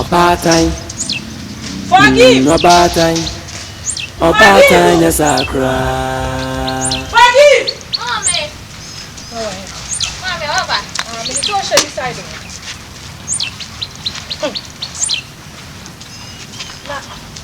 Ɔbaatan, mm, ɔbaatan, ɔbaatan nyɛ saa koraa.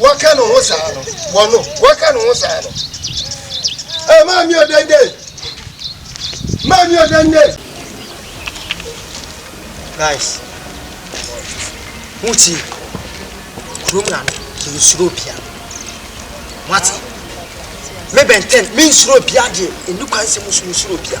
wɔka ne ho saa no wɔno wɔka ne ho saa no ɛ maa mi ɔdɛndɛ maa mi ɔdɛndɛ guys wuti kurom na no yɛ nsuro bia wate me bɛntɛn me nsuro bia deɛ ɛni kwan sɛ musuro bia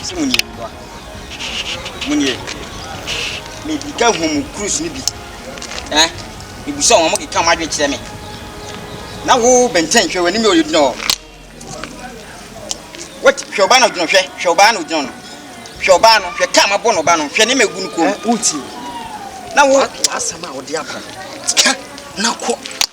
Ɔse mo nie mmoa mo nie me keka hu mo cruise no bi eh me busa wɔn mo keka wɔn adwene kyerɛ me na wo bɛntɛn hwɛ w'anim yɛ ɔyɛ gyina hɔ wɔte hwɛ ɔbaa no gyina hwɛ hwɛ ɔbaa no gyina no hwɛ ɔbaa no hwɛ kaa ma bɔ no ɔbaa no hwɛ ne ma egu no kɔn mu na wo asɛm a wɔde aba ka na kɔ.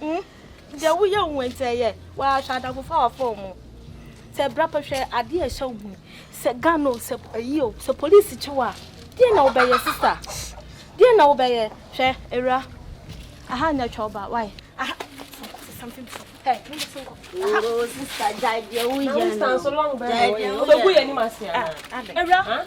Hmm? Deɛ woyɛ wo nti ɛyɛ wɔahwɛ adamfofa wɔ fon mu. Sɛ bra pa hwɛ adeɛ a ɛhyɛ wo mu. Sɛ gan o, sɛ ayi o, sɛ polisi kyew a, deɛ na wobɛyɛ sista? Deɛ na wobɛyɛ? Hwɛ, awura, aha nyɛ twɛ ɔba, why? Aha, something before. Hey, mo bɛ sinkɔ. Aha. Sista, gyae deɛ woyɛ no. Gyae deɛ woyɛ no. Wobɛgu yɛ anim ase anaa? Awura,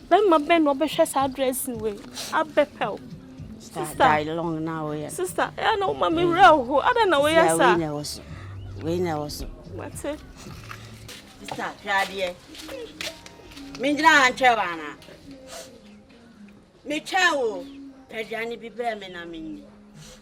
Bɛrima bɛn na ɔbɛhwɛ saa dressing wei abɛpɛw. Sista die long na woyɛ. Sista ɛyɛ na woma me wura ho adan na woyɛ sa. Wei na ɛwɔ so. Wei na ɛwɔ so. Mate. Sista hwɛ adeɛ. Mengyina ha ntwɛn wo anaa? Metwɛn wo. Aduane bi brɛ me na menni.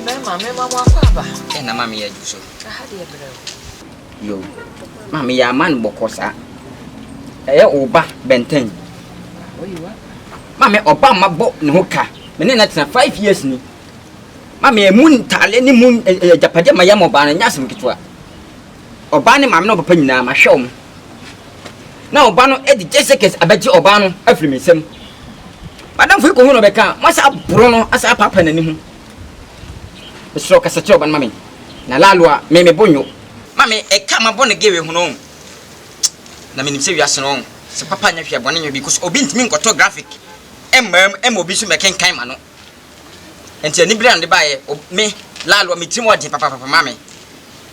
Mmarima, mmarima mo akɔ aba. Ẹ na maame yẹ so. Aha deɛ brɛ o. Yo, maame yɛ ama no bɔkɔ saa. Ɛyɛ ɔba bɛntɛn. Maame ɔba ma bɔ ne ho ka. Me ne na tena five years ni. Maame emu ntaale ne mu agyapadeɛ ma yɛ ma ɔbaa no nyɛ asɛm ketewa. Ɔbaa ne maame ne ɔpapa nyinaa, mahwɛ wɔn, na ɔbaa no de gyesɛkɛs abɛgye ɔbaa no afiri me nsam. M'adamfo yi kɔhuu no bɛka a, moasan aboro no asan apaapaa n'ani ho. Mesrɛ wo, kasa kyerɛ ɔbaa no ma me, na laalo a, me me bo nnwo. Ma me ɛka m'abɔne gee wei ho no, na menim sɛ wiase no, sɛ papa nyɛ hwee a, bɔne nyɛ obi, cos obi ntumi nkɔtɔ graphic mmaa mu mma obi nso mmɛkenkan ma no. Nti anibere a mede baeɛ, o me, Lalo, me tirim ɔɔden papapapa ma me.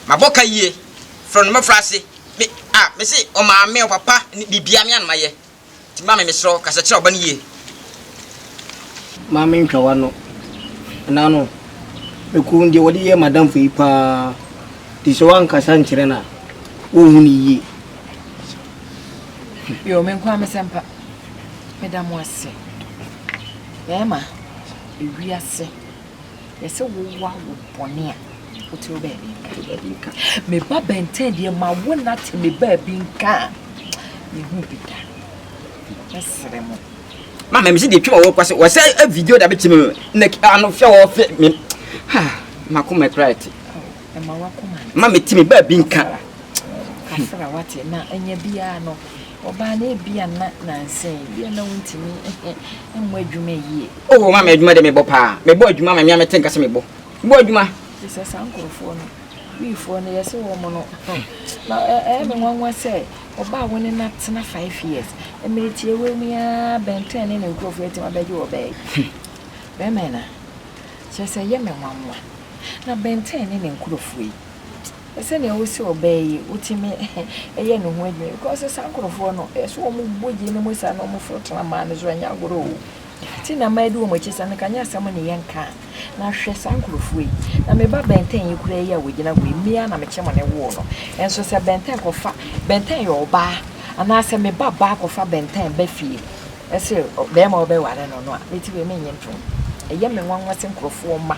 Mabɔ ka yie, frɛ no mmɔfra ase, me, a, me se ɔmaame, ɔpapa, ne biribiara me a na mayɛ. Nti maame mesrɛ wo, kasa kyerɛ ɔba no yie. Maame ntwa w'ano. Ɛnã no, mekuo no deɛ wɔde yɛɛ m'adamfo yi pa ara, nti sɛ woankasa nkyerɛ no a, wonhu no yie. Yoo, me nko ara me sɛmpa. Meda mo ase. Bɛɛma, ewiase, yɛse wo wa wo bɔne a, wo te wo baabi nka. Wo baabi nka. Me ba bɛntɛn deɛ ma wo na te me baabi nka a, me hu bi da. Me sere mo. Ma me mese deɛ twema wɔ kwase, wɔ sɛ a video da bɛkyɛ me na ano fɛ wɔ fɛ me. Ha, ma ko mɛ kura te. Ma me te me baabi nka. Kafra wate na anya biara no. Ɔbaa no, ebia na nnansa yi, ebia na wontumi mmɔ adwuma yie. Oh, wɔma me adwuma de mebɔ paa. Mebɔ adwuma ma me a mete nka sɛ mebɔ. Bɔ adwuma. Te sɛ saa nkurɔfoɔ no, Wifoɔ no, yɛse wɔn no, na ɛyɛ me nwanwa sɛ ɔbaa wo ne no atena five years. Mmerɛ tiawa mu yi ara Ben ten ne ne nkurɔfoɔ atumi abɛgye ɔbaa yi. Bɛrima yi na. Kyerɛ sɛ ɛyɛ me nwanwa. Na Ben ten ne ne nkurɔfoɔ yi, Sɛnea wosi ɔbaa yi, wotumi yɛ ne ho adwuma because saa nkurɔfoɔ no, ɛsɛ wɔn bɔ gye ne mu saa na wɔn foro tena maa no so ɛnyɛ agorɔ o. Ti na mmaa di wɔn akyi saa no ka nyɛ asɛm ne yɛn ka a. Na hwɛ saa nkurɔfoɔ yi. Na me ba bɛntɛn yi koraa yi a wɔgyina hɔ yi, me ara na me kyem ne woo no. Nso sɛ bɛntɛn kɔfa, bɛntɛn yɛ ɔbaa anaasɛ me ba baa kɔfa bɛntɛn ba fie ɛse bɛɛma ɔbɛware no no a, me ti wei me nnye ntom. Ɛyɛ me nwanwa sɛ nkurɔfoɔ mma.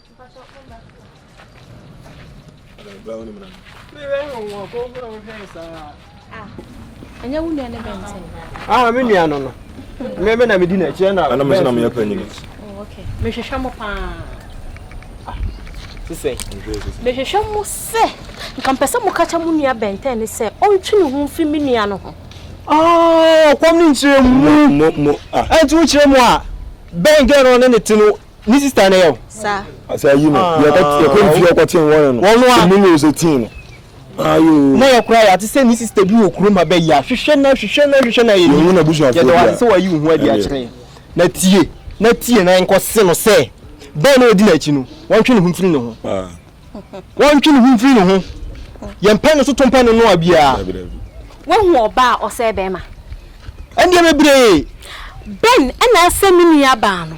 ɛnyɛ wo nua ne bɛntɛn ah me nua no no me me na medi n'akyi ɛna ɛna me sɛ na meyɛ panyin oh, okay mehwehwɛ mo paa ah, sisɛ mehwehwɛ mo sɛ nka mpɛ sɛ moka kyɛ mo nua bɛntɛn ne sɛ ɔntwe ne ho mfi me nua no ho ɔkɔm ah, ne nkyerɛ mu ɛnti wokyerɛ mu a bɛn gɛ no ne ne te no ne sista na yɛ o. sa. asa yi no ah. yɛkɔ yɛkɔ ne fie ɔkɔ ten wɔn no wɔn a mu na ose ten no. ayo na yɛ kura yate sɛ ne sista bi wɔ kurom ha bɛ yi a hwehwɛ na hwehwɛ na hwehwɛ na yɛ ni yɛ dɔn ase sɛ wɔyi ohun adi akyerɛ yɛ na tie na tie na nkɔ se no sɛ bɛn na odi n'akyi no wɔn twe ne ho mfiri ne ho ah. wɔn twe ne ho mfiri ne ho yɛn pɛn no so to mpɛn no noa biara. wɔn hu ɔbaa ɔsɛ bɛrima. ɛndeɛ bebree. bɛn ɛna asɛ mi nua baa no.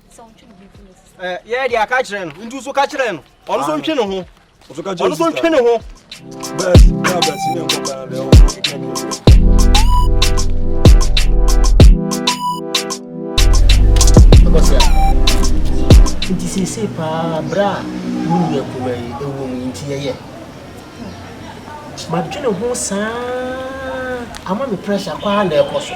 yɛ deɛ aka kyerɛ no nti so ka kyerɛ no ɔno so ntwe ne ho ɔno so ntwe ne ho nti seesei paa berɛ a wo nua kuma yi ɛwɔ mu nti yɛyɛ madwene ho saa ama me pressure kwaa na ɛkɔ so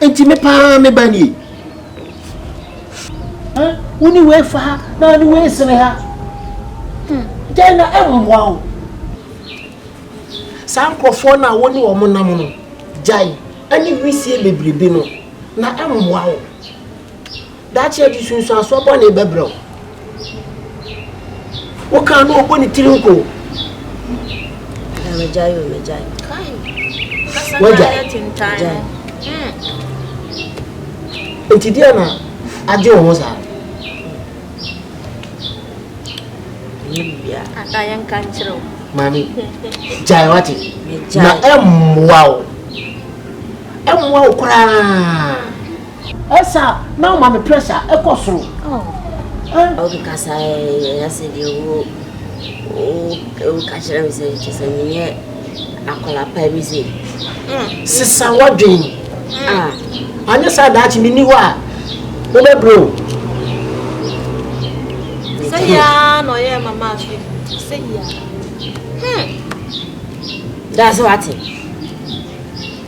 Enti me paa me ba nie. Wo ne wei fa ha na wo ne wei sene ha. Gyae na ɛmmoa wo. Saa nkurɔfoɔ no a wo ne wɔn nam no, gyae ɛne wisie bebrebe no na ɛmmoa wo. Daakye akyi sunsuansoɔ bɔne bɛbrɛ wo. Wo kan no ɔbɔ ne tiri nko. Na megyae o megyae. Wagyae. Gyae. Nti deɛ na agye wo ho saa. Ɛnyɛ bibia. Ata yɛn ka nkyerɛ wo. Maame, gyae wate. Na ɛmmoa wo. Ɛmmoa wo koraa. Ɛsa na ɔma me pressure ɛkɔ soro oh eh. Obi kasa ɛyɛ ase deɛ wo wo wo kakyerɛ me sɛ kyɛ sɛ menyɛ akwadaa pa bi se. Sesa wadwen. Ah. Anyɛ saa daakye me ni hɔ a wobɛbrɛ o. Sɛ yia na ɔyɛ mama afi sɛ yia. Hmm. That's what it.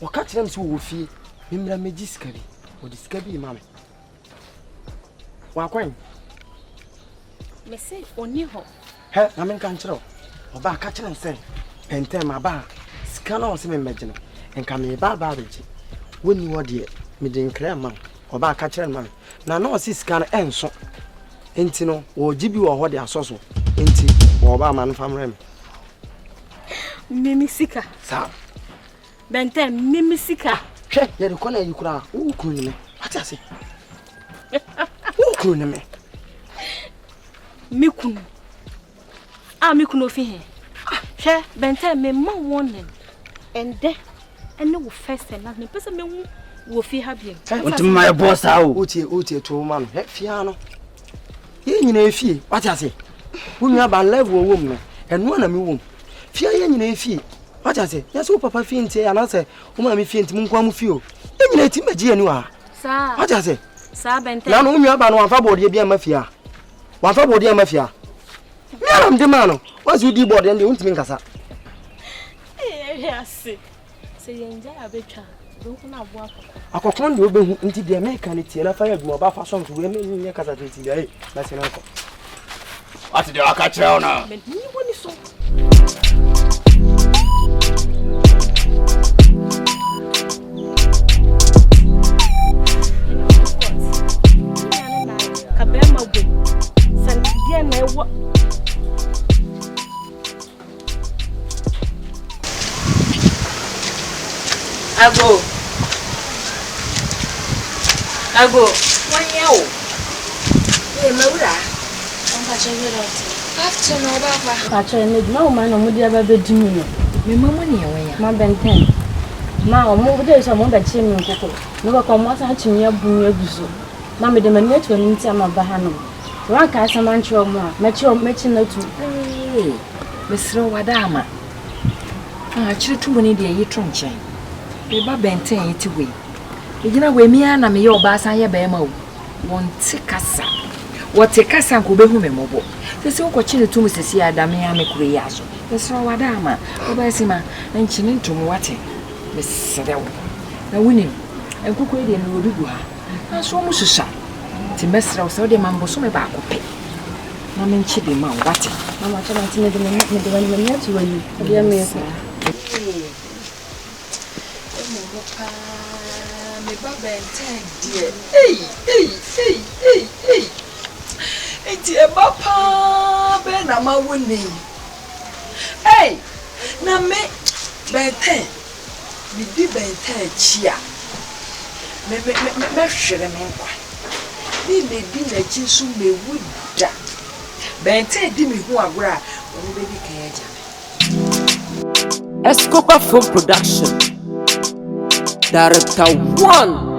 Wɔka kyerɛɛ me sɛ wɔwɔ fie, memmra mmegye sika bi. Wɔde sika bi rema me. Wakwan? Mese ɔni hɔ. Hɛ, na menka nkyerɛ wo. Ɔbaa ka kyerɛ no sɛ, pɛntɛn maba a, sika no a ɔse memmɛgye no, nka mereba aba abɛgye. Wonni hɔ deɛ, mede nkra rema wo. Ɔbaa ka kyerɛ no ma me. Na na ɔse sika no ɛnso. Enti no, wɔregye bi wɔ hɔ de asɔ so. Enti, bɔ ɔbaa ma no mfa mmrɛ me. Mimi sika. Sa. Bɛntɛ mimi sika. Hwɛ yɛ de kɔna yi kura. Wo kunu ne me. Ate ase. Wo kunu ne me. Me kunu. Ah me kunu ofi he. Hwɛ bɛntɛ me ma warning. Ɛndɛ ɛne wo first and last me pese me hu wo fi ha bi. Wonti ma yɛ boss a o. Wotie wotie to ma no. Hwɛ fia no. yɛn nyinaa efie wate ase wo nua ba level ɔwɔ mu no ɛno na mewɔ mu fie yɛn nyinaa efie wate ase yɛsɛ wo papa fie nti anaasɛ wo maame fie nti monkoa mo fie o yɛn nyinaa ɛtim bɛgye yɛn ni wɔ ha wate ase na no wo nua ba no wamfa bɔɔdeɛ bi ama fie a wamfa bɔɔdeɛ ama fie a meanam de maa no wɔnse wodi bɔɔdeɛ ndeɛ wontumi nkasa Sɛ yɛn gya a bɛtwa bɛhu no aboa akɔkɔ. Akɔkɔ ne wobɛhu nti deɛ meka no tie na fa yɛ adwuma ba fa sɔm so wei menyɛ kasa fɛ ti deɛ na sɛ no akɔ. Wate deɛ waka kyerɛ wo no. Menyi wɔ ni so. Ago, Ago, wanyɛ o. Ee, mawura. Mpakyɛ good afternoon. Afternoon na ɔba fa. Mpakyɛ ɛna adwuma wo ma na ɔmo de aba bɛdi mu no. Me ma mo nea wanya. Ma bɛntɛn. Ma ɔmo wo dɛ sɛ ɔmo bɛkye me nkoko. Mebɛkɔ ɔmo asan akye me abu me agu so. Ma mede m'ani ato anim nti ama ba ha nom. Sɛ wanka asɛm ankyerɛ ɔmo a, mɛkyerɛ ɔmo mɛkyi no atu. Ee, mesrɛ wo wada ama. Ah, akyerɛ tu mu ne deɛ yi to nkyɛn. Meba bɛnten a yɛte hɔ yi. Egyina hɔ emi ara na meyɛ ɔbaa san yɛ bɛrima o. Wɔnte kasa. Wɔte kasa nka obehu me mmɔbɔ. Sɛsi wokɔkye no tu mu sɛsi a da me ara me kuro yi ara so. Mesrɛ wo wada ama. Ɔbaa sima, nkye ne ntom wate. Mesrɛ wo. Na wonim, nkokɔ yi deɛ mewɔ bi gu ha. Nanso wɔn susua. Nti mɛsrɛ wo sɛ wode ma me bosome baako pɛ na menkye bi ma wo wate. Mama kyɛ nti mede me mede wani m'ani ato w'ani. Ɛdeɛ meekɔ. Ɛmu mu paa me ba bɛntɛn deɛ. Ei ei ei ei ei. Nti ɛba paa bɛn na mawo nei. Ei na me bɛntɛn. medi bɛn taa akyi a, me, me, me, me, mɛhwere me nkwa. Me, medi n'akyi nso mewu da. Bɛn taa di me ho agorɔ a, ɔno bɛdi kan agya me. Escobar Film Production, Director One.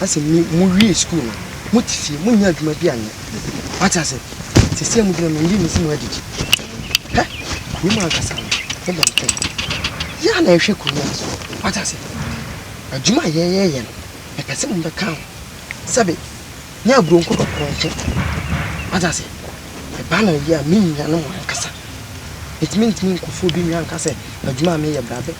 asɛ mo mo wie sukuu no mo te fie mo nya adwuma bi anyɛ wate ase sisi mo gyina mɛndi mo si mo adidi hɛ kuro mu ankasa no ne bɛn pɛn yɛ a na ɛhwɛ kuro mu aso wate ase adwuma a yɛyɛyɛ no mepɛ sɛ mo bɛka ho sɛbe ne aburo nko dɔkorɔ nkyɛ wate ase ɛba na yɛ a me nua no mo ankasa ɛtumi ntumi nkɔfoɔ bi nwa anka sɛ adwuma a meyɛ brabɛ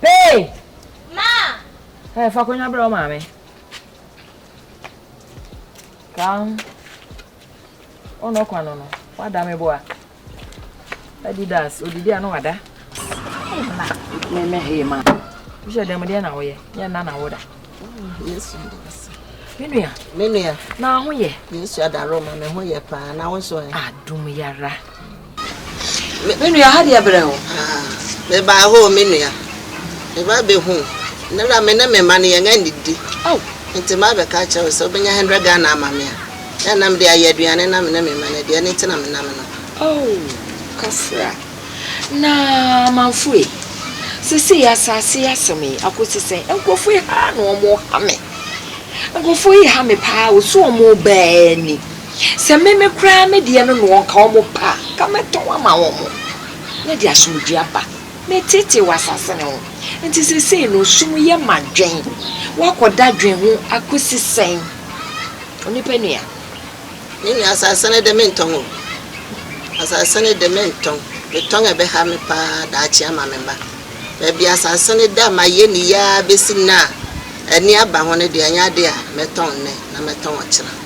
Hey! Ma! Hey, fa akonnwa brɛ wo maame. Kan. Ɔno ɔkwa no no, wada me boa. Adidas, odidi a na wada. Hey, ma. Me me hey, ma. Wohyɛ dɛm deɛ na woyɛ, yɛ nna na woda. Yesu ndi wase. Me nua. Me nua. Na ho yɛ. Yesu adaro ma me ho yɛ paa, na wo nso ɛ. Adom yara. Me me nua ha deɛ brɛ wo aa. Me baa hoo me nua me ba bɛ hu nnɛ na me ne me mma no yɛn anidi oh. Nti ma bɛ ka akyerɛ wo sɛ wo bɛ nya hundred Ghana ama me a na ɛna me de ayɛ aduane na me ne me mma no adi ɛno nti na me nam no. Oh kafra na amanfo ei sesei asase yi asɛm yi akɔsi sɛn nkorɔfo yi haa na wɔn ha me nkorɔfo yi ha me paa o so wɔn baa ni. Sɛ me me koraa me deɛ no na wɔka wɔn pɛ a, anka mɛtɔn ama wɔn, na ɛde asomdwoeɛ aba. Meteetee wɔ asase no ho. Enti seesei no, sum yɛ ma dwen. Woakɔ dadwen ho akɔsi sɛn, onipa nua? Me nua, asase no de, mentɔn o. Asase no de, mentɔn. Metɔn a, ɛbɛha me pa ara daakye ama me mma. Baabi a asase no da a mayɛ no yie ara bɛsi nnɛ a, ani aba ho no deɛ, ɛnyɛ adeɛ a mɛtɔn nnɛ na mɛtɔn ɔkyena.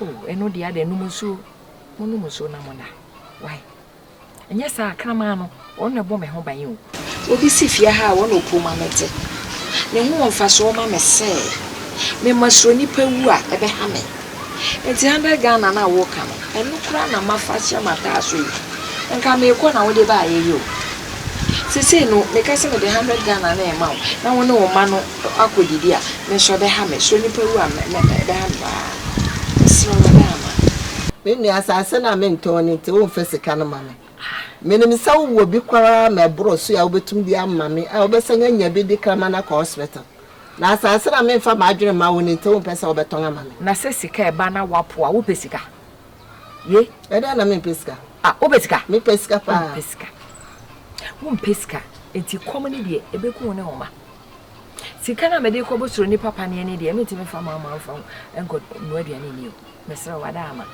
O, ɛno deɛ adɛn, nom nsuo, monom nsuo na mona. Wai, ɛnyɛ saa a, kraman no, ɔno na ɛbɔ me ho ban o. Obi si fie ha a, ɔno na ɔpue ma mete. Ne ho wɔ mfasoɔ ma me sɛ mema suro nnipa wu a, ɛbɛha me. Enti hundred Ghana no a woka no, ɛno koraa na mafa ahyɛ m'ataaso yi. Nka merekɔ na wode baeɛ yi o. Seesei no, meka sɛ mede hundred Ghana no rema wo na wo ne wo mma no. Ɔkɔ didi a me nso ɔbɛha me so nipa wu a ɛbɛha me paa mesrɛ wo ada ama me. Me nua asase no a mentɔn no nti womfa sika no ma me menim sɛ wowɔ bi koraa ma ɛboro so a wobɛtumi de ama me a wobɛsan anya bi de kraman akɔ hospital na asase no a memfa m'adwene mma wo no nti wompɛ sɛ wobɛtɔn ama me. Na sɛ sika ɛba na woapo a wopɛ sika ye? Ɛdeɛn na mempɛ sika? Ah wopɛ sika? Mepɛ sika paa. Wompɛ sika? Wompɛ sika nti kɔm no deɛ ɛbɛku wo ne wo mma. Sika no a mede kɔ bosoro nipa paneɛ no deɛ mentumi mfa ma ama mfa nkɔ nnoa aduane nni o mesrɛ wo ada ama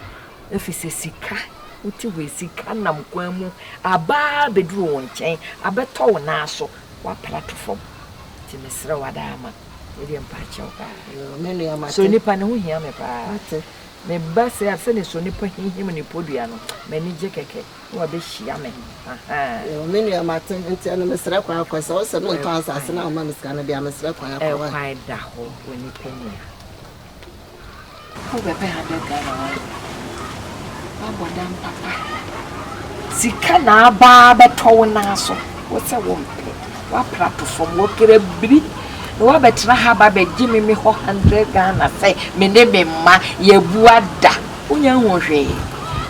ɛfiri sɛ sika wote wei sika nam kwan mu abaa bɛduru wo nkyɛn abɛtɔ wo nan so woapra to fam nti mesrɛ wo ada ama ɛdeɛ mpa kyɛw paa so nipa ne ho hia me paa meba sɛ sɛne so nipa hihim ne podua no m'ani gye kɛkɛ na wabehyia me ahaa. Yoo me nua mate nti ɛno mesrɛ kwan kɔ sɛ wosɛ me ntɔ asaase na woma me sika no dea mesrɛ kwan akɔ wai. Ɛkwan da hɔ wɔ nipa nua. Wo bɛ bɛ ha bɛ Ghana wai wa bɔ dam papa. Sika na aba bɛ tɔ wo na so wo sɛ wo mpɛ wa pra to fam wo kere biri na wa bɛ tena ha ba bɛ gye me me hɔ 100 Ghana sɛ me ne me mma yɛ bu ada Wonya nhuu hwee.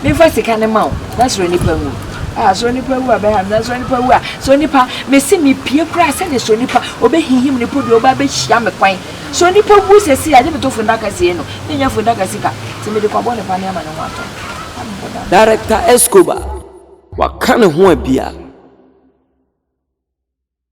Memfa sika no ma wo na soro nipa wu. Ah, soro nipa wu a bɛha me na soro nipa wu a soro nipa mese mepie koraa sɛne soro nipa ɔbɛhihim ne po deɛ ɔba bɛhyia me kwan. Soro nipa wu sɛsei a gye meto fundaka sie no menya fundaka sika nti mede kwabɔ ne pane ama ne ho atɔ me. Director Escobar waka ne ho a bia.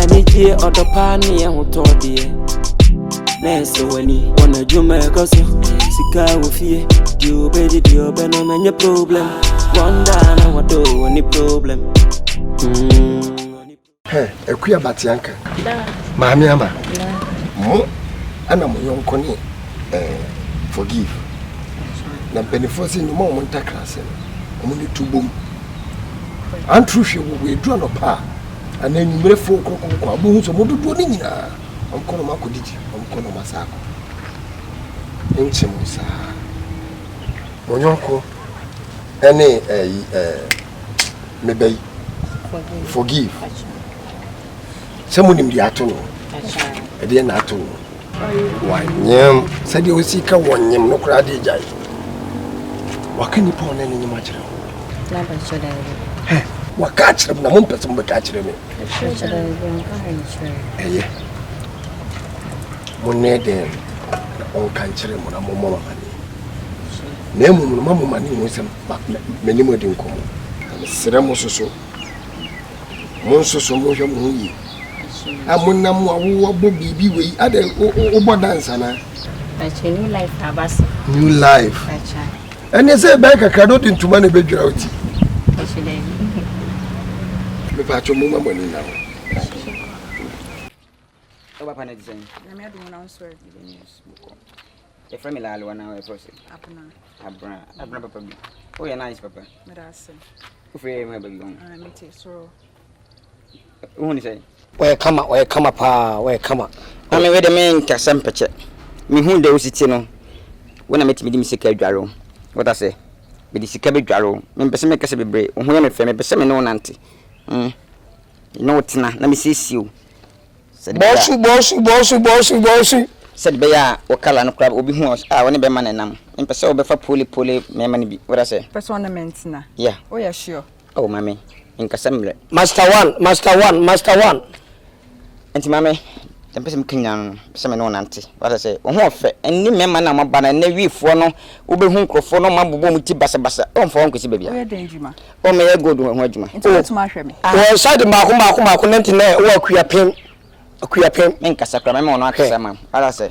Anigyeɛ, ɔdɔ pa ne yɛ ho tɔ deɛ Na ɛsɛ w'ani, wɔn adwuma ɛkɔ so Sika wɔ fie, deɛ ɔbɛgye deɛ ɔbɛnom ɛnyɛ problem Wɔn daa na wɔdɔ wɔ ne problem mm. Hɛ, akua batea nka Maame ama Mo ɛna mo yɔnko ne eh, forgive Na mpanifoɔ sɛ nyuma ɔmo ntakra sɛ Ɔmo ne tu bom Antoro hwɛ wɔ wɔ edu anɔpa a, anaa enyimire fow krɔkrɔkrɔ a, obohu sɛ wɔn dodoɔ no nyina ara, wɔkɔ na wɔakɔdidi, wɔkɔ na wɔasan akɔ. Nkyɛ mo saa ara. Mo yɔnko ne ɛyi ɛɛ me ba yi. Forgive. Sɛ mo nim deɛ ato no, ɛdeɛ na ato no. Wanyem sɛdeɛ ɔsi ka wɔnyem no koraa de agyae. Waka nnipa ɔne ne nyem akyerɛ wo. N'abɛkyɛ daabi. Hɛ, waka akyerɛ m na mompɛ sɛ mobɛka akyerɛ me. Ɛkyerɛ daabi, ɔnka hwee nkyerɛ me. Ɛyɛ. Monnɛ dɛn na ɔnka nkyerɛ mo na mommɔ mo amane. Na mmom no ma mo mane hu sɛ m'anim adi nkɔmmɔ. Na mesrɛ mo soso, monsoso monhwɛ mo ho yie. Amonam a wɔabɔ biribi wɔ yi, adɛn wobɔ dance anaa? Ɛkyɛ new life aba so. New life. Ɛkyɛ. Ɛne sɛ ɛbɛyɛ kakra na wode ntoma na ɛbɛdwira wo ti. Ɛkyɛ dɛ. Mepa atwom mo ma mo ani nna ho. Sɛ papa no te sɛn? Nyame adom na nso ɛ. Yɛfrɛ me laale wa na ɛfrɛ sɛ? Abena. Abena. Abena papa bi. Woyɛ nice papa. Meda ase. Wofrɛ yɛ ma baabi hɔ. Mete soro. wohu ne sɛn ɔyɛ kama ɔyɛ kama paa ɔyɛ kama na me wede me nkasa mpɛkyɛ mehu dɛ wosi te no wo na metumi de me sika adware wo wata sɛ mede sika bɛdware wo mempɛ sɛ mekasa bebree wo ho yɛ me fɛ mepɛ sɛ me ne wo nante mm. ne wo tena na mesiesie wo bɔsu bɔsu bɔsu bɔsu bɔsu sɛde bɛyɛ a wo kala no koraa obi hu a wo ne bɛma no nam mempɛ sɛ wobɛfa pole pole mmarima no bi wada sɛ pɛ sɛ ɔne mentena yeah woyɛ sure Oh mame nkasa mmerɛ. Master one master one master one. Nti mame deɛ mpɛ sɛ meka nyinaa no mpɛ sɛ me ne wo nante wata sɛ wo ho ɔfɛ ɛne mmarima no a moaba no ɛnɛ wii foɔ no wobɛhu nkurɔfoɔ no ɔma bobɔ mu ti basabasa oh mfa wo nkɔsi baabi a oh meyɛ gold ho adwuma oh wɔn side mmaako mmaako mmaako nanti nɛ wɔ akuapem akuapem menkasa kora mɛma wɔn akasa ma wata sɛ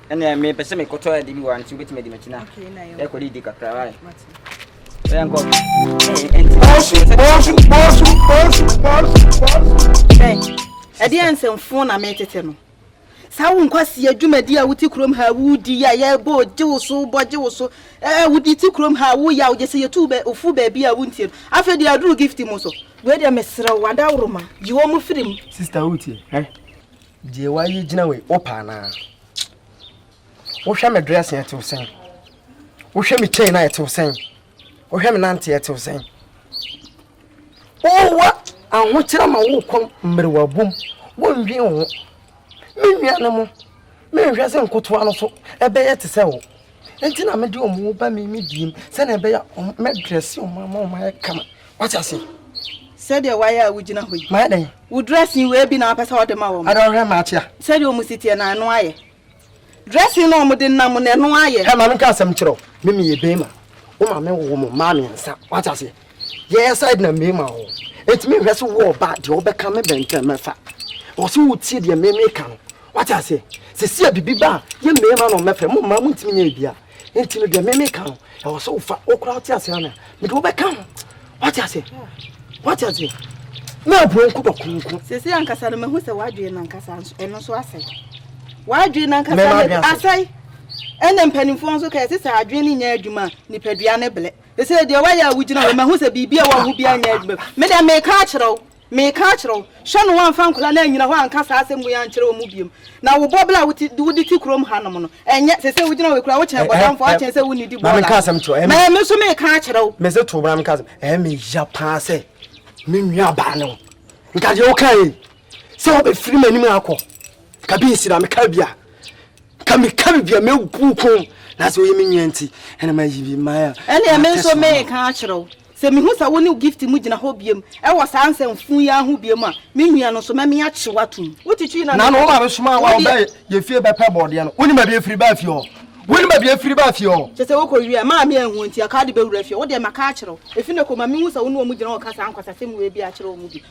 ɛnna ɛmɛ pɛ sɛ mekɔtɔ ade bi wɔ ano so wobɛtumi adi m'akyi na yɛkɔde didi kakra wae bɛyɛ nkɔ ɛdeɛ nsɛmfoɔ na metete no saa wo nkwasi adwumadi a wote kurom ha wodi a yɛbɔ gye wo so bɔ gye wo so ɛɛ wodi te kurom ha woyɛ a wogye sɛ yɛtu bɛ ofu baabi a wontie no afei deɛ aduru gift mu so wei deɛ meserɛ wo adaworoma yi wɔn mu firi mu sista wotie ɛ Deɛ wayi gyina wei wopa anaa wohwɛ me dress yɛ tew sɛn wohwɛ me chain a ɛtew sɛn wohwɛ me nante ɛtew sɛn wowa ahokyerɛ ma wokɔ mmerewa bom wondwen wo ho me nua no mo menhwɛ sɛ nkotoa no so ɛbɛyɛ te sɛ wo Enti na mede wɔn ba me me diem sɛnea ɛbɛyɛ a mɛdrɛse wɔn ama wɔn ayɛ kama. Wate ase? Sɛdeɛ wayɛ a wogyina hɔ yi. Mayɛ dɛn? Wo dressing wei bi na wapɛ sɛ wɔde ma wɔn. Ada ɔhwɛ ma akyea. Sɛdeɛ wɔn si teɛ na ɛno ayɛ. Dressing na wɔn de nam na ɛno ayɛ. Hɛ maame nka asɛm kyerɛ wo. Me meyɛ bɛrima. Wo maame wowɔ mo mmaa mmiɛnsa. Wate aseɛ? yɛyɛ side na mmie ma wo ɛtumi nhwɛ so wɔ ɔba deɛ ɔbɛka me bɛntɛn mɛfa wɔ so wotie deɛ mmie meka no wate aseɛ sisi a bibi ba yɛ mmie ma na ɔmɛfɛ mo mmaa mo ntumi nyɛ bia nti no deɛ mmie meka no ɛwɔ so wofa wokora wote aseɛ ana mede wobɛka ho wate aseɛ wate aseɛ na aburo nko bɔ konko sisi ankasa no mahu sɛ wadwee no ankasa ɛno nso asɛe wadwee no ankasa asɛe ɛna mpanimfoɔ nso kɛse sɛ adwene no nyɛ adwuma nipadua ne blɛ Seesei deɛ woayɛ a wogyina hɔ yi, mahu sɛ biribi a ɛwɔ wo ho biara nyɛ adwuma. Me deɛ, mereka akyerɛ wo, mereka akyerɛ wo, hwɛ na woamfa nkwadaa no annyina hɔ anka saa asɛm wei ankyerɛ wɔn mu bio. Na wo bɔbla a wode te kurom hanom no, ɛnyɛ, seesei wogyina hɔ yi koraa, wokyɛn bɔdamfoɔ, akyɛn sɛ wonnidi bɔɔla. Me nso mereka akyerɛ wo. Mese to wo bra menka asɛm, ɛyɛ me ya paa sɛ me nuabaa ne wo. Nka deɛ wokaeɛ yi, sɛ wobɛfiri m'anim akɔ. Ka bi nsi na meka bi a ka meka biribi a mɛgu ko na sɛ woyɛ me nwia nti ɛna mayi bi ma a ɛneɛ me nso meka akyerɛ wo sɛ mehu sɛ wo ne gift mu gyina hɔ biam ɛwɔ saa nsɛmfo yi aho biam a me nwia no nso mɛme akye watom wotitwi na no woma mesoma wa ɔbɛ yɛ fie bɛpɛ bɔɔdeɛ no wonim baabi afiri baa fie hɔ wonim baabi afiri baa fie hɔ kyɛ sɛ wokɔ wie a maa me anhu nti aka de bɛwura fie wodeɛ maka akyerɛ wo ɛfi ne kɔma mehu sɛ wo ne ɔmu gyina hɔ ka saa nkwasasɛm wei bi akyerɛ ɔmu bi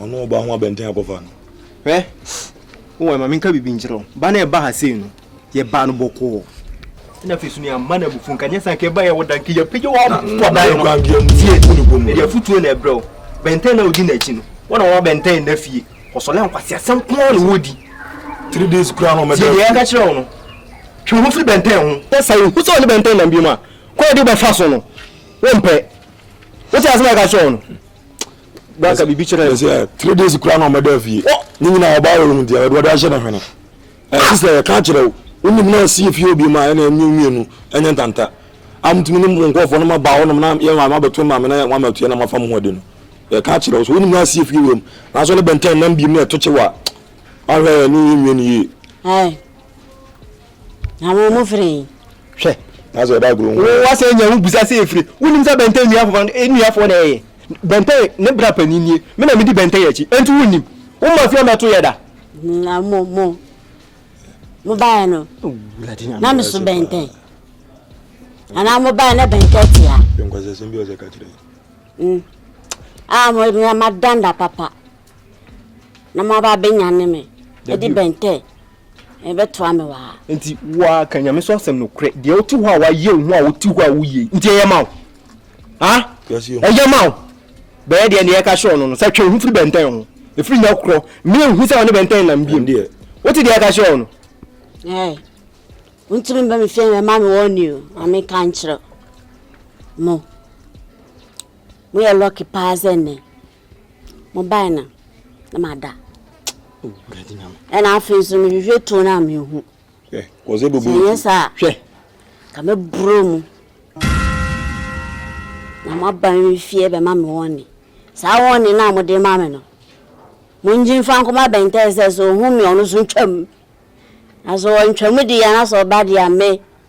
Ɔno ɔba ho abɛnten akɔfa no. Hwɛ, wowɔ ɛma menka biribi nkyerɛ wo. Ba no a ɛba ha sei no, yɛbaa no bɔkɔɔ na afei so ne amma no abufuo nka nyɛ sɛ anka ɛbaeɛ wɔ da nka yɛpagya wɔ abɔdae no tie ɛde afotuo na ɛbrɛ wo bɛntɛn na wodi n'akyi no wɔna wɔma bɛntɛn nna fie ɔsɔlɛ nkwase asɛm koa na wɔdi three days kura no mɛdɛ deɛ ɛka kyerɛ wo no twe ho firi bɛntɛn ho na sɛ wohu sɛ ɔne bɛntɛn nam bi mu a kwan ɛde wobɛfa so no wompɛ wote asɛm a ɛka kyerɛ wo no baka biribi kyerɛ three days kura no mɛdɛ fie ne nyina ɔbaa wɔ no mu deɛ wɔde ahyɛ no hwene Eh sister yɛ ka kyerɛ wo, wo nim na ɔsi efie obi ma ɛna ɛmi omi enu ɛnyɛ ntanta. Am tumi nim wɔn nkɔfoɔ na ma ba hɔ nom na yɛ ma bɛto ma me na yɛ wɔn ama tuya na ma fa mu ho adi no. Yɛ ka kyerɛ wo so wo nim na ɔsi efie wɔ mu na so ne bɛntɛn nam bi mu na ɛto kye wa. Ahwɛ yɛ ne yɛ nwie ne yie. Ɛɛ. Na wɔn mo fere yi. Hwɛ. Na sɛ ɛda agorɔ ho. Wo wa sɛ nya wo busa sɛ efire. Wo nim sɛ bɛntɛn nua afɔfɔ nua afɔ na ɛyɛ. Bɛntɛn ne bra panin nie. Me na me di bɛntɛn akyi. Enti wo nim. Wo ma fia mɛto yɛ da. Na mo mo mo baeɛ no na me so bɛntɛn anaa mo baeɛ na bɛntɛn tia. Nkwasi asɛm bi ɔsɛ kakyere. Mm. Ah, mo mo ma danda papa. Na mo aba benya ne me. Edi bɛntɛn. Ɛbɛtoa me wa. Nti wa ka nyame so asɛm no korɛ. Deɛ wote hɔ a wayɛ wo ho a wote hɔ a woyɛ. Nti ɛyɛ ma wo. ah ɛyɛ ma wo bɛyɛ deɛ ne yɛka hyɛ ɔno no sɛ twe ho firi bɛntɛn ho ɛfiri nya korɔ mmea nhu sɛ ɔne bɛntɛn nam biom wote deɛ ɛka hyɛ ɔno wontumi bɛ me fie na ɛma me wɔne o ma meka nkyerɛ mo moyɛ lɔke paa sɛ nnɛ mobae no na mada ɛna afei nso mehwehwɛ tuo no a mehu Sɛ ɛnyɛ saa a, anka mɛboro mu na moaba me fie bɛma me wɔne. Saa wɔne no a mode ma me no, mongye mfa nkɔma bɛntɛn sɛ sɛ ɔhu me a, ɔno nso ntwam. Na sɛ ɔantwam deɛ na sɛ ɔba deɛ a, me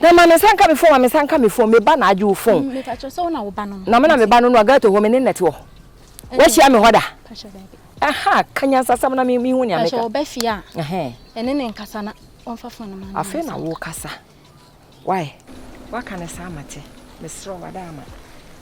Na ma me nsa nka me fon, ma me nsa nka me fon, me ba na agye wo fon. Me patrɔ sɛ wo na wo ba no no. Na me na me ba no no, Agato hɔ, me ne nɛte wɔ hɔ. Wa hyia me hɔ da? Patrɔ daabi. Aha, ka nyansasɛm na me hu nea me ka. Patrɔ ɔba fie a, ɛne ne nkasa na ɔnfa fon no ma no. Afei na wo kasa. Wai? Wa ka no saa ma te. Me serɛ wo, ada ama.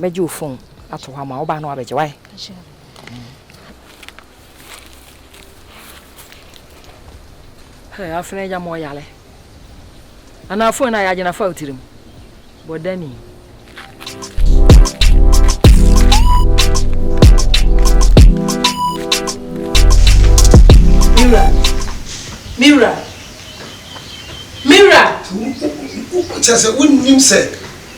bɛgye wo fon ato hɔ ama wo ba na wabɛgye wae. afena agya ma ɔyale ana afon na yɛagye na fa wo tirim bɔdani Mira, Mira, Mira. Kyɛ sɛ wonnim sɛ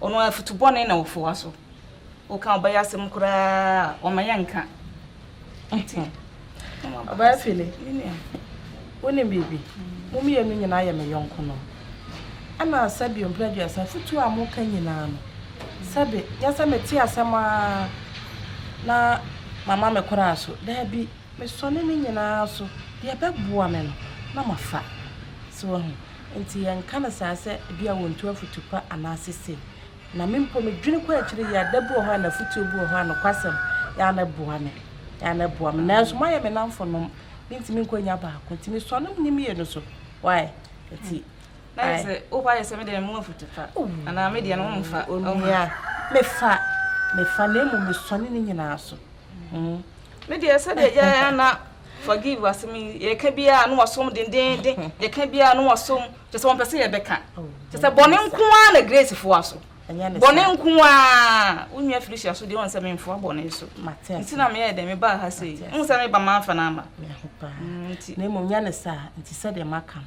Ɔno afutu bɔne na ɔfoa so. Woka ɔbɛyɛ asɛm koraa a, ɔma yɛ nka. Ɔbɛyɛ fili. Wonim biribi? Mo mmienu nyinaa yɛ me yɔnko no. Ɛna sɛbi mpere aduasa afutuo a moka nyinaa no, sɛbi nyɛ sɛ mete asɛm ara na mama me koraa so. Daabi. Mesɔne ne nyinaa so, deɛ ɛbɛboa me no na mafa. So wahu? Enti yɛnka no saa sɛ ebia wɔntu afotu pa anaasɛ sei. Na me mpo medwene kɔ akyire yi a, da bi wɔ hɔ a n'afotuo bi wɔ hɔ a nokwasɛm yɛ a na ɛboa me, yɛ a na ɛboa me. Nanso moayɛ me nnamfonom, mentumi nkɔ nya baako. Enti mesɔne ne mmienu so. Why? Enti. Na ayɛ sɛ wo ba ayɛ sɛ me deɛ memu afotu pa anaa me deɛ no womfa. Onua, mefa, mefa na mmom mesɔne ne nyinaa so. Mm. Me deɛ sɛdeɛ yɛa na forgive asɛm yi yɛka biara na wɔsom dendenden yɛka biara na wɔsom kyɛ sɛ wɔmpɛ sɛ yɛbɛka kyɛ sɛ bɔne nko ara na grace foa so bɔne nko ara wo nua felicia so deɛ wɔn sɛ memfoa bɔne so nti na meyɛ dɛ mebaa ha sɛ yi wo sɛ meba mamfa no ama na mmom nya ne saa nti sɛdeɛ maka no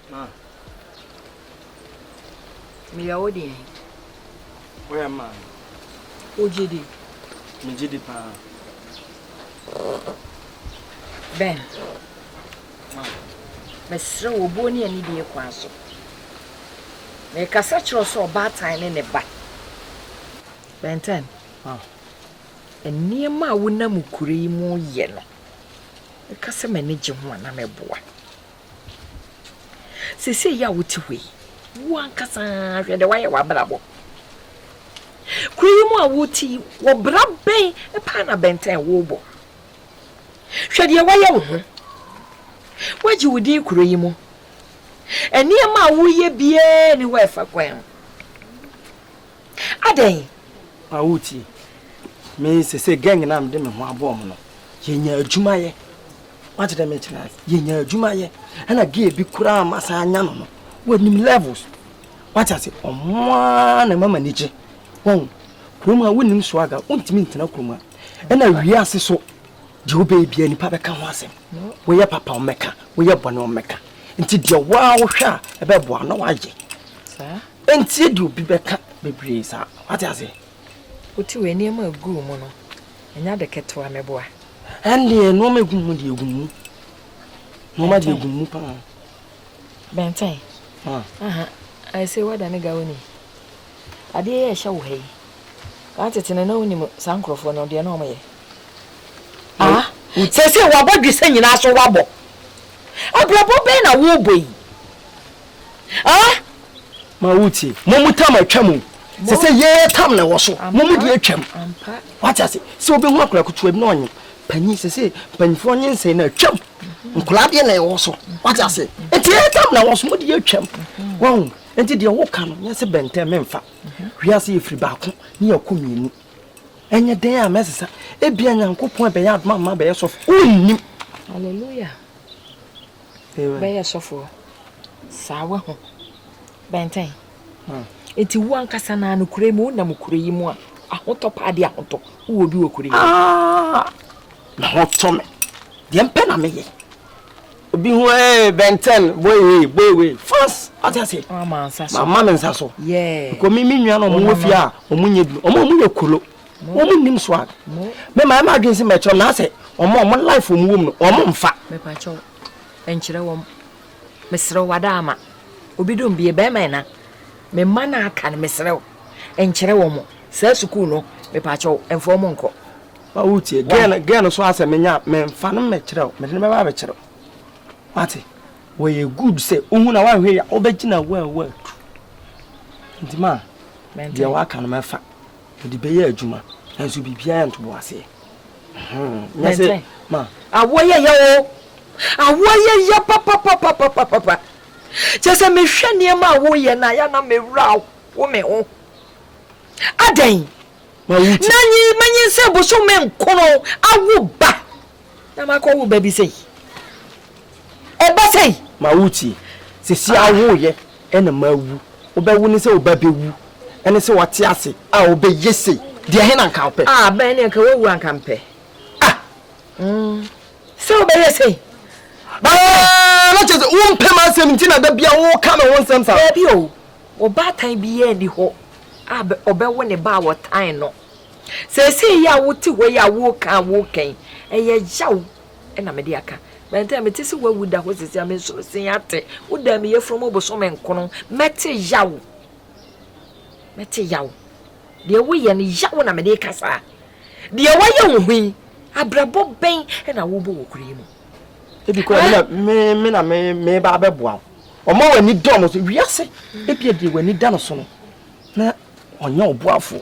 Ma me yɛ wo deɛn? Woyɛ ma me. Wo gye di? Me gye di paa. Ben. Ma. Mesrɛ wo obuo ne anidie kwan so. Mekasa kyerɛ wo sɛ ɔbaatan ne ne ba. Ben Ten. Ma. Nneɛma a wonam kuro yi mu yɛ no, meka sɛ m'ani gye ho a na mɛboa. Seesei yi a wote hɔ yi, wo ankasa hwɛ deɛ woayɛ w'abrabɔ. Kuro yi mu a wote yi, wɔ bra bɛn paa na bɛntɛn wobɔ? Hwɛ deɛ woayɛ wo ho. Woagye wo din kuro yi mu. Nneɛma a woyɛ biara nni hɔ a ɛfa kwan ho. Adɛn? Ma wotie. Me, sese gang na mede me ho abɔ wɔn no, yɛnya adwuma yɛ. Wate dɛ mekyerɛ ase, yɛnya adwuma yɛ. Ɛna gay bi koraa ma saa anya no no, wɔnim levels. Wate ase, ɔmo ara na ɛma m'ani gye. Wɔn, kurom ha wonim swaga, wontumi ntena kurom ha. Ɛna wiase so, deɛ wobɛyɛ biara nipa bɛka ho asɛm. Woyɛ papa wɔmmɛka, woyɛ bɔne wɔmmɛka. Nti deɛ woa wohwɛ a ɛbɛboa na woayɛ. Ɛntie deɛ obi bɛka bebree saa. Wate aseɛ? Wote wei nneɛma a ɛgu wo mu no, ɛnyɛ ade ketewa meboa. Ɛndeɛ nneɛma ɛgu mu deɛ ɛgu mu. Nneɛma deɛ ɛgu mu paa. Bɛntɛn. Aha, ayɛ sɛ woada ne gawa ni. Adeɛ yɛ ɛhyɛ wo ha yi. Kaa tete no na wonim saa nkurɔfoɔ no deɛ na wɔyɛ. Ah, sɛsɛ wabɔ dwesɛ nyinaa so wabɔ. Abrabɔ bɛn na wobɔ yi? ah ma wo tie mo mu tam atwa mu sɛ sɛ yɛyɛ tam na ɛwɔ so mo mu deɛ atwam wate ase sɛ wobɛhu akora kotoa bi na ɔnye panyin sɛ sɛ mpanyinfoɔ nye nsɛn na atwam nkora deɛ na ɛwɔ so wate ase nti yɛyɛ tam na ɛwɔ so mo deɛ atwam wɔn nti deɛ woka no nyɛ sɛ bɛntɛn memfa wiase yɛfiri baako ne yɛkɔ mmienu ɛnyɛ dɛn a mɛsesa ebia nyankopɔn ɛbɛyɛ adoma ma bɛyɛ sɔfo wonnim hallelujah bɛyɛ sɔfoɔ saa wahu bɛntɛn nti wo ankasa naa no kure mu wonam kure yi mu a ahotɔ paa de ahotɔ wowɔ bi wɔ kure yi ah, na ho tɔ me deɛ mpɛ na meyɛ obi ho ee bɛntɛn boy ee boy wei fans ɔte ase mama me nsa so kò mi mi nua na ɔmo wɔ fie a ɔmo nyɛ bi ɔmo ɔmo yɛ kolo. wɔn mu nim swag mɛ maa ɛma adwene si mɛ kyerɛ na sɛ wɔn a wɔn life wɔn wɔm no wɔn mfa. mɛpakyɛw nkyerɛ wɔn mesrɛw wada ama obi dom bie bɛrima ɛna me mma no aka no mesrɛw nkyerɛ wɔn saa sukuu no mɛpakyɛw mfa wɔn nkɔ. ma wo tie gɛn gɛn no so asɛ menya mɛmfa no mɛkyerɛw mɛde no bɛba abɛkyerɛw wate wɔyɛ good sɛ wohu na woanhwɛ yɛ wobɛgyina wo a woatu nti ma deɛ woaka no mɛfa Mede bɛyɛ adwuma nanso biribiara yɛ ntoboaseɛ. Nyɛ sɛ ma. Awoɔ yɛ yɛ o. Awoɔ yɛ yɛ papapapapapa. Kyɛ sɛ mehwɛ nneɛma a woyɛ no a, yɛ na mewura ho me ho. Adɛn? Na nyi manyin sɛ bosome nkron awo ba. Na makɔ wo ba bi sei. Ɛba sei. Ma wo tie. Sɛsi a wo yɛ ɛna ma awu. Wo bɛ wo ne sɛ wo ba bɛ wu. Ɛne sɛ wate ase a wo bɛ yɛ sei. Deɛ he na nka wo pɛ. Ah bɛn ne nka wo awu a nka mpɛ. Ah mm sɛ wo bɛ yɛ sei. Bɛn. Ah na kyɛ sɛ wo mpɛ ma asɛm nti na da bia wo ka me ho nsɛm saa. Daabi o. Ɔbaatan biaa ni hɔ a ɔbɛ wo ne ba a wɔtan no. Seesei yi a wote hɔ yi a woreka a woreka yi, ɛyɛ yaw na mede aka. Bɛntɛn, mete sɛ woawu da hɔ seesei a mensono sen ate wo dan mu yafunu mu bosome nkron. Mɛte yaw. Mɛte yaw. Deɛ woyɛ no, yaw na mede reka saa. Deɛ woayɛ wo ho yi, abrabɔ bɛn na wobɔ wɔ kuro yi mu? Ebi kora eh? me na me meba abɛboa wo. Ɔma w'ani dɔ mo so. Wiase, ebia deɛ w'ani da no so no, na ɔnyɛ ɔboafo.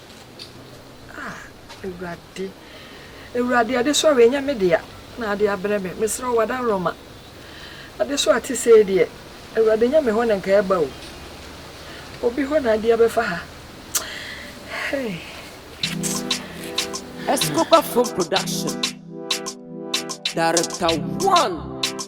Ah, Awurade, Awurade, adesoa ɛnyɛ me dea na ade abrɛ me. Mesrɛ wo, Adaworoma, adesoa te sei deɛ, Awurade, nyɛ me hɔ na nka ɛba o. Obi hɔ na ade abɛfa ha. Hey. Escobar Film Production. Director One.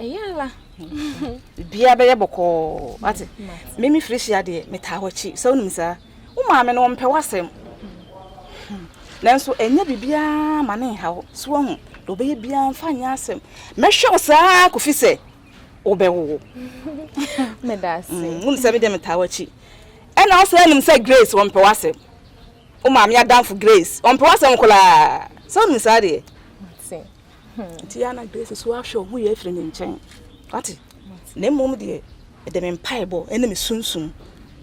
ɛyɛ ala bia bɛyɛ bɔkɔɔ ate meme firi hyia deɛ metaa wakyi sɛ wonim saa wo maame no ɔmpɛ w'asɛm nanso ɛnyɛ biribiaa ma ne nha wo so wahu deɛ wobɛyɛ biaa mfa nyɛ asɛm mɛhwɛ wo saa kofi sɛ wobɛwowo wonim sɛ medeɛ metaa wakyi ɛna wo sɛ nim sɛ grace ɔmpɛ w'asɛm wo maame adamfo grace ɔmpɛ w'asɛm kolaa sɛ wonim saa deɛ nti yɛ na grace so ahwɛ ɔmo yɛ afiri ne nkyɛn wate na mmom deɛ ɛde me mpaebɔ ɛne me sunsum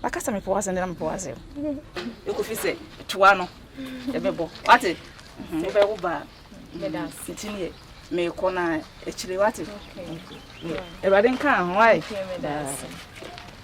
maka sɛ mepɛ wase na mepɛ wase ɛkɔfi sɛ toa no ɛbɛbɔ wate wobɛwo baa nti neɛ meekɔ na akyire wate awurade nka ho ae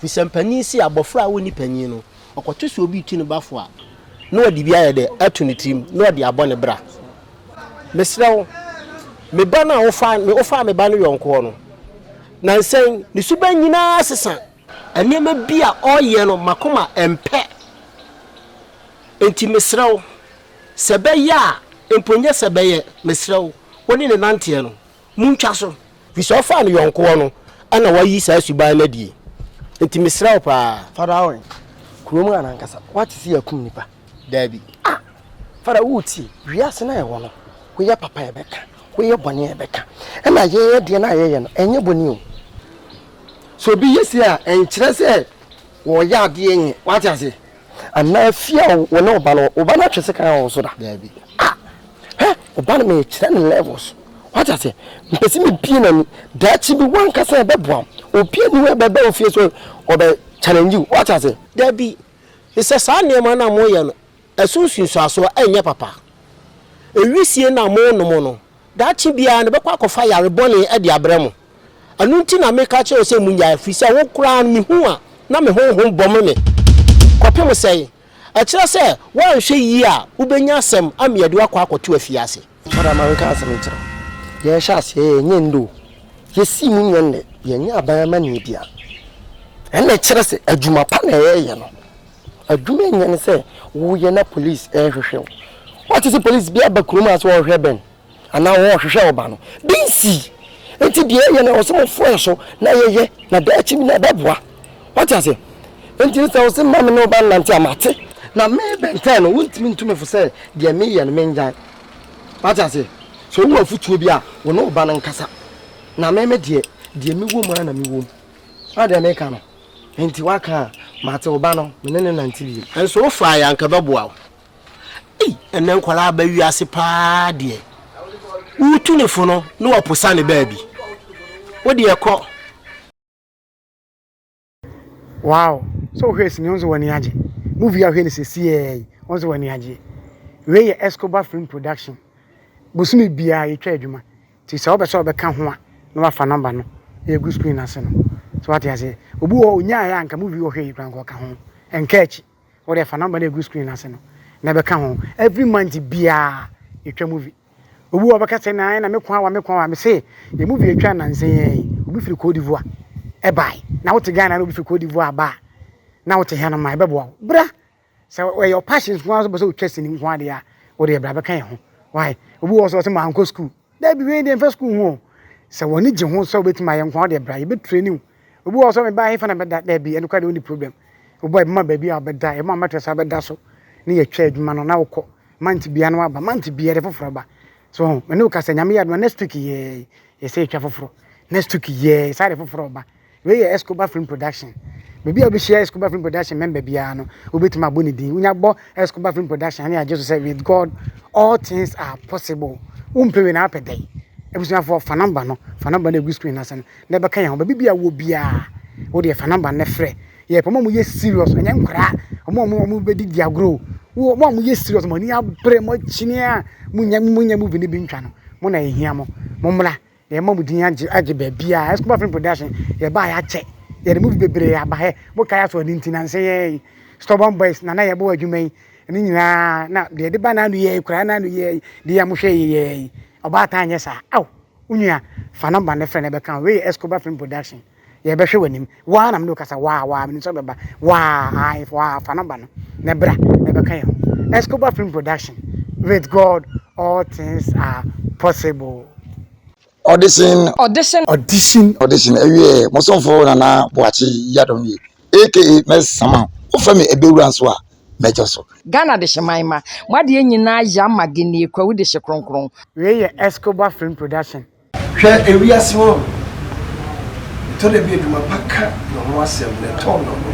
Fi sɛ mpanin se abɔfra a ɔnni panin no, ɔkɔto sɛ obi retu ne bafo a, na ɔde bi ayɛ dɛ ato ne tirim na ɔde abɔ ne bra. Mesrɛ wo, me ba no a wofaa me wofaa me ba no yɔnkoɔ no, nnansa yi, ne suban nyinaa sesa. Nneɛma bi a ɔreyɛ no, m'akoma mpɛ. Enti mesrɛ wo, sɛ ɛbɛyɛ a, mpo nyɛ sɛ ɛbɛyɛ, mesrɛ wo, wo ne no nanteɛ no, Montwa so. Firi sɛ ɔfaa ne yɔnko hɔ no na wayi saa suban no adie. Enti mesrɛ wo paa. Fada Awen, kuro mu a nankasa woate sɛ yɛakum nnipa? Daabi. Ah! Fada woretie? Wiase no a yɛwɔ no, woyɛ papa a yɛbɛka, woyɛ bɔne a yɛbɛka. Ɛna yɛn adeɛ no a yɛyɛ no, ɛnyɛ bɔne o. Sɛ obi yɛ sei a, ɛnkyerɛ sɛ wɔreyɛ adeɛ nyɛ. Woate aseɛ? anaa fie a wo ne wo ba no wɔ, wo ba no atwe sekan wɔ wo so da? Daabi. Ah! Hwɛ, wo ba no merekyerɛ no levels. Wate aseɛ? Mepɛ sɛ mebie n'ani. Daakye bi w'ankasa na ɛbɛboa wo. Obi ani hɔ ɛbɛba wo fie sɛ ɔbɛ challenge wo. Wate aseɛ? Daabi. Mesɛ saa nneɛma no a moyɛ no, ɛso nsunsuasoɔ ɛnyɛ papa. Wisie no a monom no, Daakye biara no, mɛkɔ akɔfa yare bɔne de abrɛ mo. Ɛno nti na meka kyerɛ wo sɛ munnyae, ɛfiri sɛ wo koraa no, mehu a na me honhom bɔ me me. Kɔpem sɛn? Ɛkyerɛ sɛ, woanhwɛ yie a, wobɛnya asɛm ama yɛde wo akɔ akɔto afiase. Madam, menka asɛm nkyerɛ wo. Yɛhyɛ aseɛ yɛ, ɛnyɛ nnɛ o. Yɛsii mu nyɛ nnɛ. Yɛnyɛ aban amanneɛ biara. Ɛnna ɛkyerɛ sɛ, adwuma pa na yɛreyɛ no. Adwuma nyɛ ne sɛ woyɛ na police rehwehwɛ wo. Woate sɛ police bi aba kurom a sɛ wɔrehwɛ bɛn anaa wɔrehwehwɛ ɔba no, bi nsii. Nti deɛ yɛyɛ no ɛwɔ sɛ mofoa yɛ so na yɛyɛ na daakyi bi no ɛbɛboa. Woate aseɛ? Nti no sɛ wo se mma me ne wo ba nnante a, mate. Na me Ben Ten no, wontumi ntu me fo sɛ deɛ meyɛ no mennyae. Woate aseɛ? Sɛ wowɔ afotuo bi a, wo ne wo ba no nkasa. Na me me deɛ, deɛ mewɔ mu ara na mewɔ mu. Woahu deɛ meka no? Enti woaka a, mate wo ba no, me ne no nante bio. Nso wofae a anka ɛbɛboa wo. Ei, ɛnnɛ nkwadaa aba wiase paa deɛ. Wotu ne fo no na wapo sa ne baabi. Wo deɛ kɔ. Wow, sɛ wohwɛ sini wo nso w'ani agye. Movie a wohwɛ no sɛsiɛ yi, wo nso w'ani agye. Wei yɛ Escobar Film Production. Bosome biara yɛtwa adwuma. Nti sɛ wopɛ sɛ ɔbɛka ho a na wafa number no na yɛagu screen no ase no. So wate aseɛ? Obi wɔ hɔ ɔnyaeɛ a anka movie ɔhwɛ yi koraa anka ɔka ho. Ɛnka akyi. Wodeɛ fa number no ɛgu screen no ase no na bɛka ho. Every month biara yɛtwa movie. Obi wɔ hɔ ɔbɛka sɛ na na me ko awa me ko awa. Mese yɛ movie yɛtwa nansa yi ara yi obi firi Cote d'Ivoire ɛbae. Na wote Ghana na obi firi Cote d'Ivoire aba a na wote ha no ma ɛbɛboa wo. Bra! sɛ ɛyɛ ɔpahye nko ara bɛ sɛ otwa sini nko ara deɛ a o deɛ bra bɛka yɛn ho why obi wɔ sɛ ɔsɛ maa nkɔ sukuu dɛbi wei deɛ nfa sukuu ho sɛ wɔn ani gye ho sɛ obetumi ayɛ nko ara deɛ bra yɛ bɛ ture niw obi wɔ sɛ ɔmɛ baa efa na bɛda dɛbi ɛno kora deɛ ɔni problem obi ɛbɛma baabi a ɔbɛda ɛbɛma mɛtrɛs abɛda so ne yɛ twɛ adwuma no na ɔkɔ manti bia no aba manti bia de foforɔ ba so ɛne okasa nyame yɛ adoma next week yɛ yɛ sɛ etwa foforɔ next week yɛ sáré foforɔ ba. Wei yɛ Escobar Film Production. Baabi a wobɛhyia Escobar Film Production member biara no, wobɛtumi abɔ ne din. Wonya bɔ Escobar Film Production ne agye so sɛ with God all things are possible. Wompɛ wei na apɛ dɛn? Abusuafoɔ fa namba no, fa namba no ɛgu screen n'ase no na ɛbɛka yɛn ho. Baabi biara wɔ biara, wodeɛ fa namba no frɛ. Yɛpɛ ɔmo a wɔyɛ serious, ɛnyɛ nkwadaa. Ɔmo a ɔmo ɔmo bɛdi di agorɔ. Wo ɔmo a wɔyɛ serious, mo ani abere, mo akyini a, mo nya mo nya movie no bi ntwa no, mo na yɛhia mo. Mo mmra. Yɛn mma mu din agye agye baabiara. Escobar Film Production, yɛbaa yɛ akyɛ. Yɛde movie bebree aba hɛ. Mokae asɔ ne nti nanse yɛ yi. Stubborn Boys na na yɛbɔ adwuma yi. Ɛno nyinaa na deɛ yɛde ba n'ano yɛ yi koraa n'ano yɛ yi. Deɛ yɛ a mohwɛ yi yɛ yi. Ɔbaatan nyɛ saa. Ao, wo nua, fa number no frɛ na ɛbɛka wo. Wei yɛ Escobar Film Production. yɛbɛhwɛ w'anim waa na mene wokasa waa waa mene nso bɛba waa ae waa fa nɔmba no na bra na bɛka yɛn ho Escobar Film Production with God all things are possible audition audition audition audition ɛwiɛ mosomfo nana boakye yadom ni aka mɛsama wofa me ɛbɛwura nso a mɛgya so Ghana de hyeman ma mo adeɛ nyinaa yɛ ama genie kwawu de hye kronkron. Wei yɛ Escobar Film Production. Hwɛ ewiase ho a ɛtɔ da bi adwuma pa ka ne ho asɛm na ɛtɔn ne ho,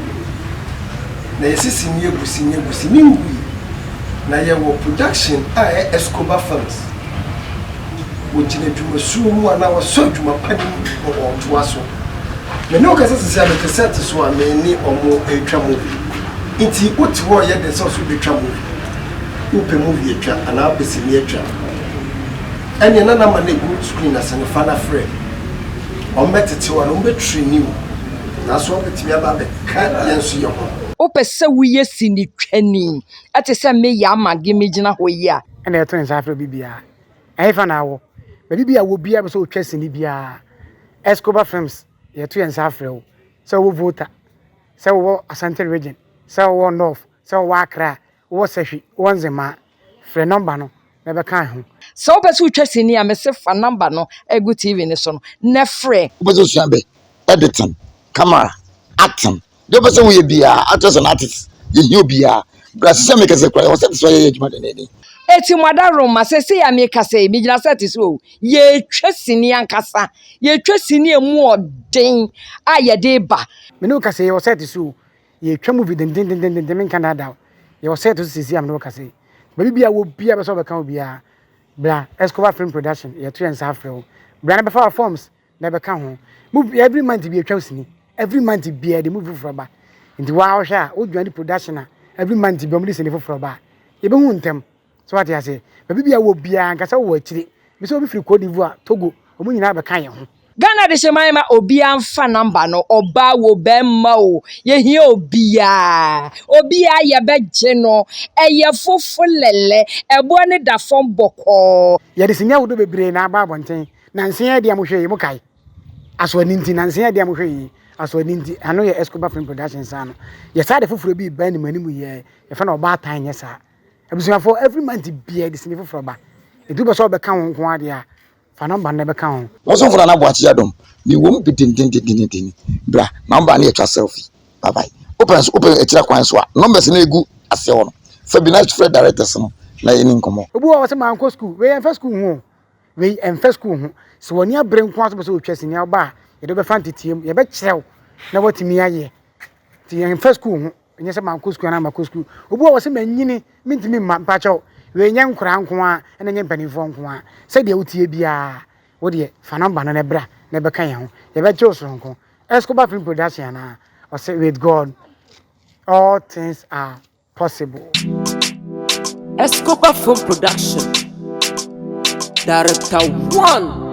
na yɛsi sini egu sini egu sini ngui, na yɛwɔ production a ɛyɛ Escobar Films, wogyina dwumasuo mu anaa wɔsɔ adwuma pa no mu na wɔtoa so. Me ne wo kasa sisi a mete set so a me ne wɔn retwa movie. Nti wote hɔ reyɛ dɛ sɛ wo nso wobɛtwa movie? Wopɛ movie atwa anaa wopɛ sini atwa? Ɛneɛ na na ma no ɛgu screen ase no fa no frɛ wɔn bɛtete wo ano, wɔn bɛ traini wo nanso wɔn bɛtumi aba abɛka yɛn nso yɛ ho. Wopɛ sɛ woyɛ sinitwani te sɛ me Yaa Mage megyina hɔ yi a? Ɛna yɛto nsa frɛ obi biara. Ɛhefa na awɔ? Baabi biara wɔ biara pɛ sɛ ɔtwa sini biara Escobar Films yɛto yɛn nsa frɛ wo. Sɛ wowɔ Volta, sɛ wowɔ Asante Region, sɛ wowɔ North, sɛ wowɔ Accra, Wowɔ sahwi wɔ ndzɛmba a, frɛ nɔmba no na bɛkaa ho. Sɛ wopɛ sɛ wotwa sini a, mese fa nɔmba no a egu TV no so no na frɛ. Wopɛ sɛ wosua bɛ editing, camera, acting, deɛ wopɛ sɛ woyɛ biara, actress and artists, yɛhia obiara. Bra sisi a meka sɛ kura yɛwɔ set so a yɛyɛ adwuma denneennen. Eti mo adaworoma, seesei a meka sɛ yi, megyina set so o, yɛretwa sini ankasa, yɛretwa sini a emu ɔden a yɛde reba. Me ne wo kasa yi, yɛwɔ set so o, Yɛtwa movie dendendendenden menka nnaada wo. Yɛwɔ set so seesei a mene wo kasa yi. Baabi biara wɔ biara bɛ sɛ wɔbɛka wo biara bra Escobar Film Production yɛto yɛn nsa afrɛ wo. Bra na bɛfa wɔ forms na ɛbɛka ho. Movie every month bi yɛtwa sini. Every month biara yɛde movie foforɔ ba. Nti waa wohwɛ a wodwane production a every month bi wɔde sini foforɔ ba a yɛbɛhu ntɛm. So wate aseɛ? Baabi bia wɔ biara nka sɛ wɔ akyire. Bi sɛ obi firi Cote d'Ivoire, Togo, wɔn nyinaa bɛka yɛn ho. Ghana de hyɛ man ma obiara nfa number no, ɔbaa wo, bɛrima o, yɛhia obiara. Obiara yɛbɛgye no, ɛyɛ fofo lɛlɛ, ɛboɔ no da fam bɔkɔɔ. Yɛde sini ahodoɔ bebree na aba abɔnten, na nsen a ɛdi a mohwɛ yi, mokae? Asɔ ani nti, na nsen a ɛdi a mohwɛ yi, asɔ ani nti. Ano yɛ Escobar Film Productions ano. Yɛsan de foforɔ bi reba animuanimu yɛɛ, yɛfrɛ no Ɔbaatan nyɛ saa. Abusuafo, every month biara de sini foforɔ ba. Ɛtu bɛ sɛ ɔbɛka ho nko adeɛ a, fa nɔmba no bɛka ho. Ɔsomfo Nana Boakye Adom, mewɔ mu dendendendendendenn. Bra ma wo ba ne yɛtwa selfie. Bye bye. Wopɛ nso, wopɛ akyire kwan nso a, numbers no ɛgu aseɛ hɔ no, fa bi na frɛ directors no na yɛne nkɔmmɔ. Obi wɔ hɔ ɔse mankɔ school, wei ɛmfa school ho o, wei ɛmfa school ho. Sɛ w'ani abere nko ara sɛ wopɛ sɛ wotwa sini a, wo ba a, yɛde wo bɛfa nteteam, yɛbɛkyerɛ wo na woatumi ayɛ. Nti ɛmfa school ho. ɛnyɛ sɛ mankɔ sukuu anaa makɔ sukuu obi wɔ hɔ sɛ manyini mentumi mma mpakyɛw wei nyɛ nkoraa nko a ɛna nyɛ mpanimfoɔ nko a sɛdeɛ wotie biara wo deɛ fa nɔmba no na ɛbra na ɛbɛka yɛn ho yɛbɛgye wo soronko Escobar film production anaa ɔsɛ with God all things are possible Escobar film production director one